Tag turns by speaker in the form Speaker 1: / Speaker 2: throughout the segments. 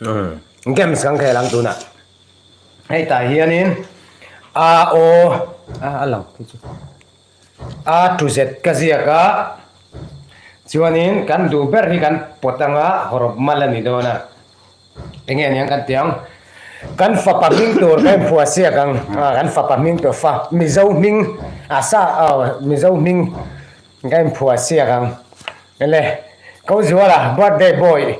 Speaker 1: Umm games kan khel ang tunah hei tah hianin a o a a lang phei chu a to z ka ziak a chuanin kan duh ber hi kan pawt anga hawrawp mal a ni dawn a enge aniang kan tih ang kan fapa hming tur kan phuah siak ang kan fapa hming tur fa mizo hming a sa mizo hming kan phuah siak ang le ko zuala birthday boy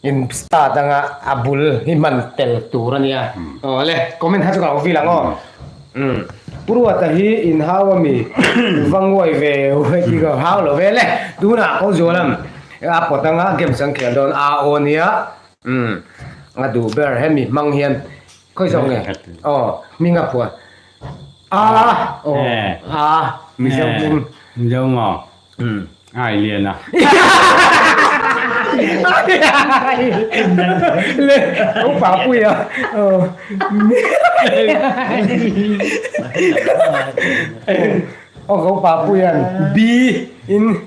Speaker 1: In start anga a bul hi hman tel tur a nia. Aw le comment ha chu ka vil ang aw. Um. Puruat a hi in hau a mi va nguai ve uai ti ka hau lo ve le. Tuna ko zual ang. A pawt anga game chu an khel dawn a aw a nia. Um. A duh ber he mi hmang hian khawi zawk nge. Aw hming a phuan. A aw a mi zeuh hming.
Speaker 2: Zeuh maw. Ai lian a.
Speaker 1: Upa pui a. Upa pui an bi in.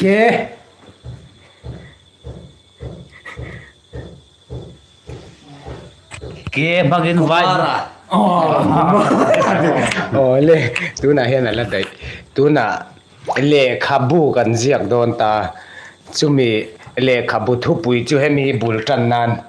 Speaker 1: Ke.
Speaker 3: Ke bhagin vai. Oh
Speaker 1: le tuna hian ala daih tuna lehkhabu kan ziak dawn ta chumi lehkhabu thupui chu hemi bul tan nan.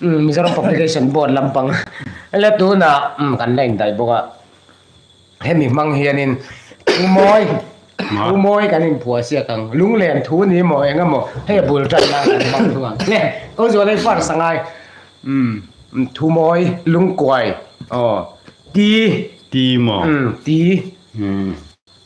Speaker 1: Mizoram Publication Board lampang la tunah kan la indaih bawk a, hemi hmang hianin thu mawi thu mawi kan inphuahsiak ang, lunglen thu ni maw eng emaw hei a bul tan nan kan hmang thung ang nge Ko Zualai Far sangai thu mawi, lungkuai aw ti
Speaker 2: ti maw ti.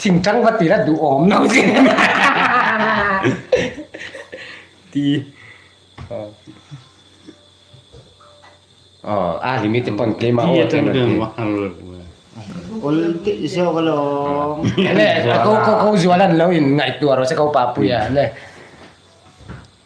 Speaker 1: Ching chang va tira duhawm no zin em ti a limit te pawn claim a aww tlem
Speaker 2: lo
Speaker 4: ti ul tih zawk alawm
Speaker 1: ko zual a nlo in ngaihtuah erawh se ko papuia.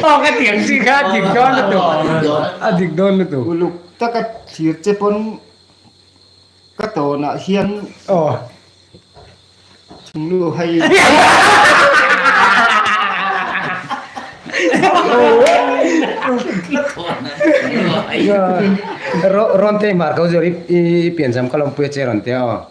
Speaker 1: Awk a tiang si kha a dik dawn lutuk, a dik dawn lutuk. Uluk taka
Speaker 4: thlir che pawn ka tawnah hian thinglu hei
Speaker 1: Rawn tei hmar kau zawt i pianzam ka lawmpui a che rawn tia aw.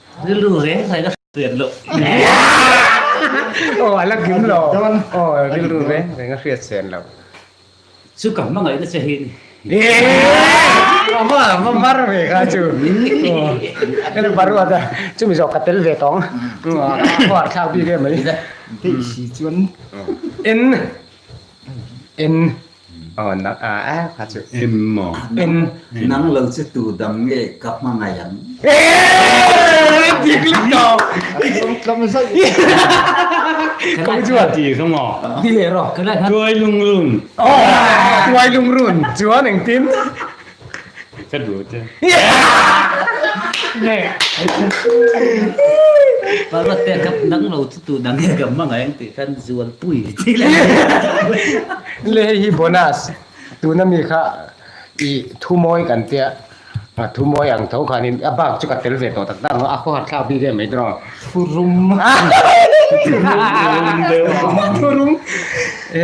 Speaker 3: Rilru reng hnai ka hriat loh aw
Speaker 1: a la kim lo aw rilru reng hnai ka hriat chen lo chu ka
Speaker 3: hmangaih na che hi a ni awma
Speaker 1: va var ve kha chu eng va ruat a chumi zawk ka tel ve tawng a khuar thlak bik em mai. Tih si
Speaker 4: chuan. In
Speaker 1: N oh na ah eh kha chu M maw
Speaker 2: N nang
Speaker 1: lo chu
Speaker 5: tu dam nge ka hmangaih ang
Speaker 1: dik lik tawh tlawm zauh kawng chu a ti kha maw ti
Speaker 2: leh rawh
Speaker 1: tuai lungrun
Speaker 2: oh tuai
Speaker 1: lungrun chuan engtin.
Speaker 2: Ka duh te.
Speaker 3: Parvat te kap dang lo chu tu dang e gam mangai ang tih khan zual pui thik le.
Speaker 1: Le hei hi bonus tuna mi kha i thu mawi kan tia a thu mawi ang tho khan in a bak chu ka tel ve tawh tak tak ang a khawhat thlak bik em mai tawh ang thu rum
Speaker 4: thu
Speaker 1: rum thu rum e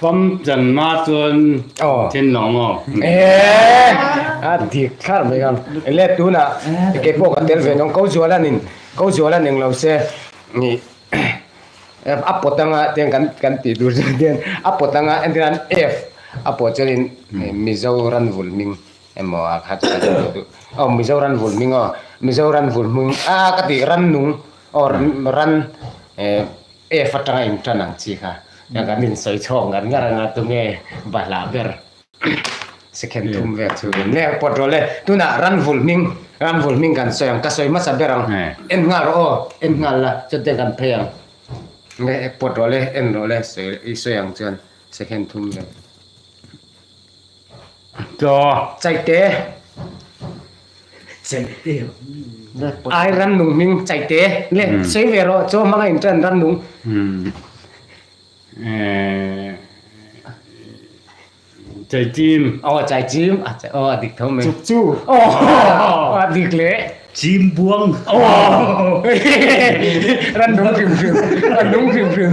Speaker 2: Pam chanma chuan thinlo maw? A dik
Speaker 1: thar mai ang. Let tunah keipawh ka tel ve dawn. Ko zual a nin, ko zual a ning lo se ni. A pawt anga tiang kan tih tur chu tihian a pawt anga entirhan F a pawh chuanin Mizo Ranvul hming emaw a kha chu ka ti ve duh. Aw Mizo Ranvul hming aw, Mizo Ranvul hming a ka tih Rannung aw Ran. F atanga inṭan ang chi kha ka kan insawi chhawk ngar ngar ang a, tunge Bala ber second thum vel chu kan leng pawt rawh le. Tunah Ranvul hming, Ranvul hming kan sawi ang, ka sawi hmasa ber ang, en nghal rawh aw, en nghal la, chutiang kan phei ang, tunge pawt rawh le, en rawh le, i sawi ang chuan second thum vel.
Speaker 2: Chaite
Speaker 3: ai
Speaker 1: rannung hming chaite nge sei ve rawh chaw hmanga in chuan rannung
Speaker 2: chaichim aw chaichim
Speaker 1: aw a dik tho mai chuk chu aw
Speaker 4: a
Speaker 1: dik le chim buang
Speaker 3: aw
Speaker 1: rannung hrim hrim rannung hrim hrim